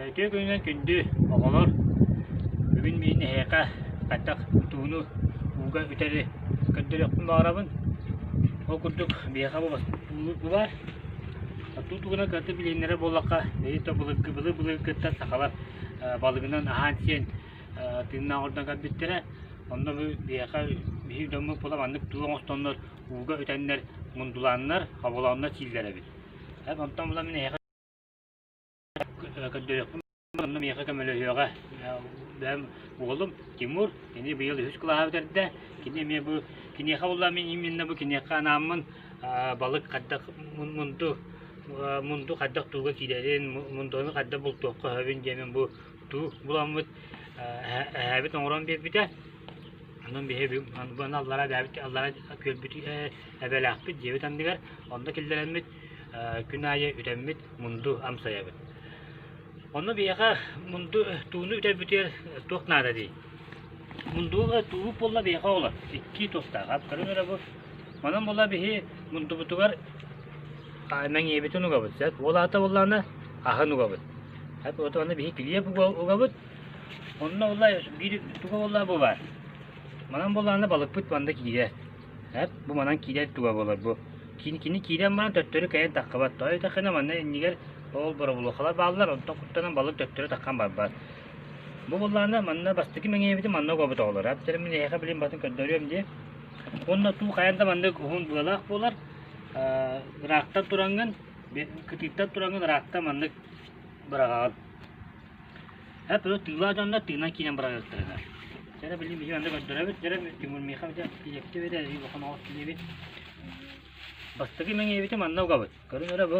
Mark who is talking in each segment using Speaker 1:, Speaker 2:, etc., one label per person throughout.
Speaker 1: Эти күнүнэн күндү оҕолор бүгүн мин эһиэхэ хайдах тууну ууга үтэри көрдөрүөхпүн баҕарабын. Ол курдук биһиэхэ булар. Туу тугуна кыратык билиһиннэрэ буоллахха, эти былыргы былыр былыргы кытта сахалар балыгынан аһаан сиэн тыыннаах ордон көрбүттэрэ. Онно бу биһиэхэ биһир дьоммут була маннык туу оҥостоннор ууга үтэннэр мундулааннар, хоболооннор сииллэр эбит. Эп онтон була мин эһиэхэ көрдөрүөхпүн онно миэхэ көмөлөһүөҕэ. Бэм уолум Тимур кини быйыл үһүс кылааһа бүтэрдэ. Кини эмиэ бу киниэхэ булла мин именно бу киниэхэ анааммын балык хайдах мунду мунду хайдах тууга киирэрин мундуну хайдах бултуохха сөбүн диэмин бу тутуу буламмыт эһээбит оҥорон биэрбитэ онон биһиги аллара эбээбит аллара күөлбүт эбэлээхпит дьиэбит анныгар онно киллэрэммит күн аайы үтэммит мунду амсайабыт онно биһиэхэ мунду тууну үтэрбитигэр туох наада дии мундуга тууп буолла биһиэхэ олор икки туостаах аптарын өрө бу Онон була биһи мурдубутугар мэҥиэбитин угабыт. Ол аата буоллаана аһын угабыт. Вот аны биһи клип угабыт. Онно улла биир туга буолла бу бар. Манан буоллаана балыкпыт манда киирэ. Бу манан киирэ туга болар бу. Кини кини киирэн манан төттөрү кэйэн тахкабат. Тойо тахына манна иннигэр ол боробулохала бааллар. Онтон куттанан балык төттөрү таххан барбат. Бу боллаана манна бастакы мэҥиэбитин манна угабыт оҕолор. Әптерим мин эһэҕэ билин батын көрдөрүөм дии. Уонна туу хайан да маннык уһун быалаах буолар. Ыраахтан тураҥҥын, кытыыттан тураҥҥын ыраахта маннык быраҕаҕын. Эп өлө тыылаа дьоннор тыынан киинэн быраҕыахтарына. Жара билин биһи анда көрдөрөбүт, жара Тимур Миха дьа тилекте бедэ и бохон оҕот тилебит. Бастыгы мэҥэбити манна угабыт. Көрүн өрө бу.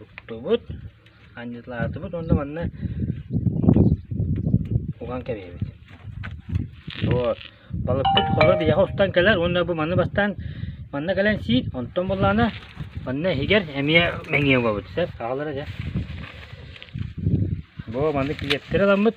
Speaker 1: Уктубут, анньылаатыбыт уонна манна уган кэбиһэбит. Вот. Балыкпыт холо диэхэ устан кэлэр уонна бу маны бастаан манна кэлэн сиир, онтон буллаана манна иһигэр эмиэ мэҥиэ угабыт. Сөп, аалара дьэ. Бу маны клиптери аламмыт.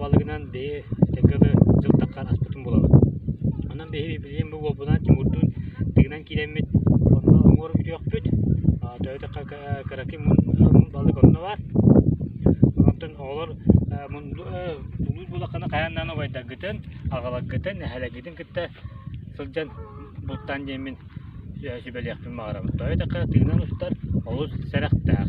Speaker 1: Балыгынан биһи тыкылы дьылтаххар аспытын булабыт. Онон биһи билиэн бу буолбутунан Тимурдуун тыгынан киирэммит, онно уҥуор бүтүөхпүт. Төһөтө кыракый балык онно баар. Онтон оҕолор улуус буолаххына хайаан даҕаны убайдаргытын, аҕаларгытын, эһэлэргитин кытта сылдьан бултаан диэммин сүбэлиэхпин баҕарабын. Төһөтө тыгынан устар олус сэрэхтээх.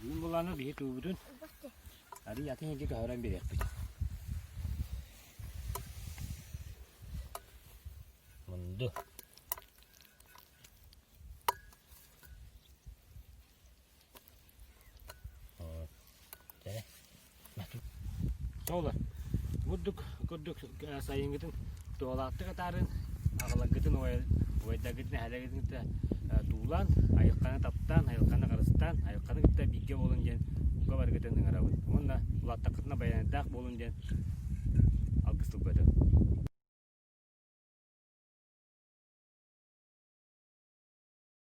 Speaker 1: Бүгүн булааны биһи туубутун арый атын иһин көһөрөн бириэхпит. Мунду. Тоолор, бурдук курдук сайыҥҥытын туолааттык атааран, аҕаларгытын уойдаргытын эһэлэргитин кытта туулаан, айылханы таптаан, айылханы харыстаан, айылханы кытта бииргэ буолуҥ диэн бука барыгытын ыҥырабын уонна улааттаххытына байыанайдаах буолуҥ диэн алгыс тылбытым.